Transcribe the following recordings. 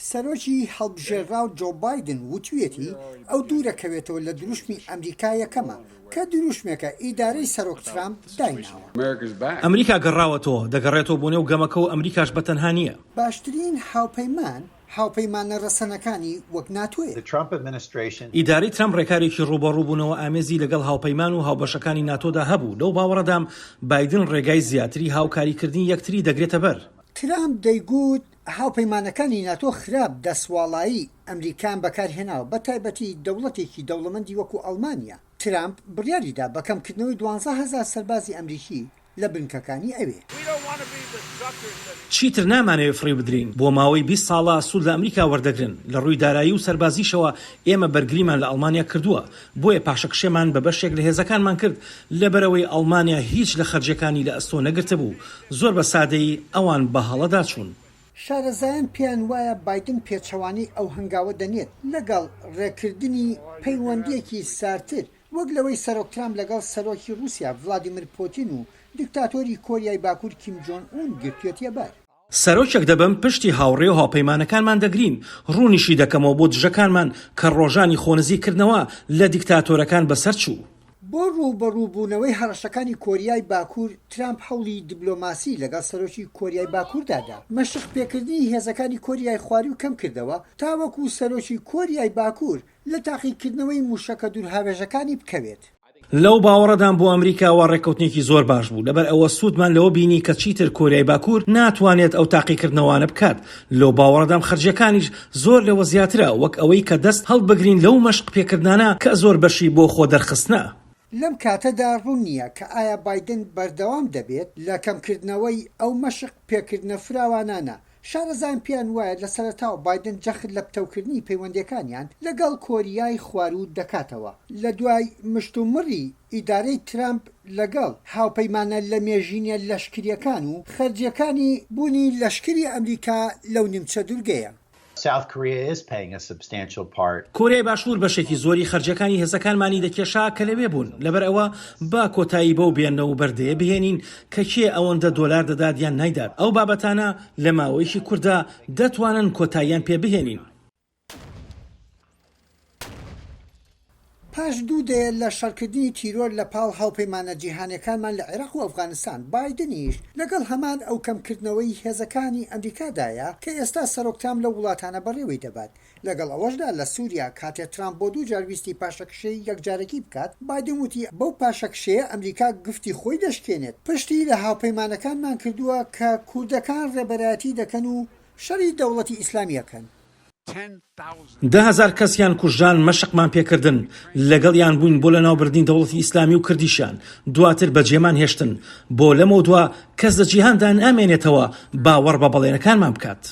سەرۆکی هەڵبژێرراو جۆ بایدن وتویەتی ئەو دوورەکەوێتەوە لە دروشمی ئەمریکا یەکەمە، کە دروشمێکە ئیدارەی سەرۆک ترامپ دایناوە. ئەمریکا گەڕاوەتەوە، دەگەڕێتەوە بۆ نێو گەمەکە و ئەمریکاش بە تەنها نییە. باشترین هاوپەیمان هاوپەیمانە رەسەنەکانی وەک ناتۆیە. ئیدارەی ترامپ رێکارێکی رووبەڕووبوونەوە ئامێزی لەگەڵ هاوپەیمان و هاوبەشەکانی ناتۆدا هەبوو، لەو باوەڕەدام بایدن رێگای زیاتری هاوکاریکردنی یەکتری دەگرێتەبەر. ترامپ دەیگوت هاوپەیمانەکانی ناتۆ خراپ دەستواڵایی ئەمریکایان بەکارهێناوە، بەتایبەتی دەوڵەتێکی دەوڵەمەندی وەکو ئەڵمانیا. ترامپ بڕیاریدا بە کەمکردنەوەی دوانزە هەزار سەربازی ئەمریکی لە بنکەکانی ئەوێ. چیتر نامانەوێت فریو بدرێین، بۆ ماوەی بیست ساڵە سوود لە ئەمریکا وەردەگرن، لە ڕووی دارایی و سەربازیشەوە ئێمە بەرگریمان لە ئەڵمانیا کردووە، بۆیە پاشەکشێمان بە بەشێک لە هێزەکانمان کرد، لەبەرئەوەی ئەڵمانیا هیچ لە خەرجیەکانی لە ئەستۆ نەگرتبوو، زۆر بە سادەیی ئەوان بە هەڵەدا چوون. شارەزایان پێیان وایە بایدن پێچەوانەی ئەو هەنگاوە دەنێت، لەگەڵ ڕێکردنی پەیوەندیەکی ساردتر، وەک لەوەی سەرۆک ترامپ لەگەڵ سەرۆکی ڕوسیا ڤلادیمر پۆتین و دیکتاتۆری کۆریای باکور کیم جۆن ئون گرتوێتیەبەر. سەرۆکێک دەبم پشتی هاوڕێ و هاوپەیمانەکانمان دەگرین، ڕوونیشی دەکەمەوە بۆ دژەکانمان کە ڕۆژانی خۆنزیک کردنەوە لە دیکتاتۆرەکان بەسەر چوو. بۆ ڕووبەڕووبوونەوەی هەڕەشەکانی کۆریای باکوور، ترامپ هەوڵی دیبلۆماسی لەگەڵ سەرۆکی کۆریای باکووردا دا. مەشق پێکردنی هێزەکانی کۆریای خواروو کەم کردەوە تاوەکوو سەرۆکی کۆریای باکوور لە تاقیکردنەوەی مووشەکە دوورهاوێژەکانی بکەوێت. لەو باوەڕەدام بۆ ئەمریکا وا ڕێککەوتنێکی زۆر باش بوو، لەبەر ئەوە سوودمان لەوە بینی کە چیتر کۆریای باکوور ناتوانێت ئەو تاقیکردنەوانە بکات، لەو باوەڕەدام خەرجیەکانیش زۆر لەوە زیاترە وەک ئەوەی کە دەست هەڵبگرین لەو مەشق پێکردنانە کە زۆر بەشی بۆ خۆ دەرخستنە. لەم کاتەدا ڕوون نییە کە ئایا بایدن بەردەوام دەبێت لە کەمکردنەوەی ئەو مەشق پێکردنە فراوانانە شارەزایان پێیان وایە لە سەرەتاوە بایدن جەخت لە پتەوکردنی پەیوەندییەکانیان لەگەڵ کۆریای خواروو دەکاتەوە لە دوای مشتومڕی ئیدارەی ترەمپ لەگەڵ هاوپەیمانە لەمێژینە لەشکرییەکان و خەرجییەکانی بوونی لەشکری ئەمریکا لەو نیمچە دورگەیە. South Korea is paying a substantial part. کۆریای باشوور بەشێکی زۆری خەرجییەکانی هێزەکانمانی دەکێشا کە لەوێ بوون، لەبەرئەوە با کۆتایی بەو بێنە و بەردەیە بهێنین کە کێ ئەوەندە دۆلار دەدات یان نایدات، ئەو بابەتانە لە ماوەیەکی کورتدا دەتوانن کۆتاییان پێ بهێنین. پاش دوو دەیە لە شەڕکردنی تیرۆر لە پاڵ هاوپەیمانە جیهانیەکانمان لە عێراق و ئەفغانستان، بایدنیش لەگەڵ هەمان ئەو کەمکردنەوەی هێزەکانی ئەمریکادایە کە ئێستا سەرۆک تام لەو وڵاتانە بەڕێوەی دەبات. لەگەڵ ئەوەشدا لە سووریا کاتێ ترامپ بۆ دوو جار ویستی پاشەکشێی یەکجارەکی بکات، بایدن وتی بەو پاشەکشێیە ئەمریکا گفتی خۆی دەشکێنێت. پشتی لە هاوپەیمانەکانمان کردووە کە کوردەکان ڕێبەرایەتی دەکەن و شەڕی دەوڵەتی ئیسلامی ئەکەن. دە هەزار کەسیان کوژران مەشقمان پێ کردن، لەگەڵیان بووین بۆ لەناوبردنی دەوڵەتی ئیسلامی و کردیشیان، دواتر بەجێمان هێشتن. بۆ لەمەودوا کەس لە جیهاندا نامێنێتەوە باوەڕ بە بەڵێنەکانمان بکات.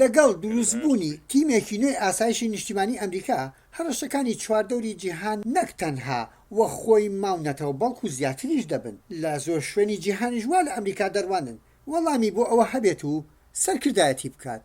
لەگەڵ دروستبوونی تیمێکی نوێی ئاسایشی نیشتیمانی ئەمریکا، هەڕەشەکانی چواردەوری جیهان نەک تەنها وەک خۆی ماونەتەوە بەڵکو زیاتریش دەبن، لە زۆر شوێنی جیهانیش وا لە ئەمریکا دەڕوانن وەڵامی بۆ ئەوە هەبێت و سەرکردایەتی بکات.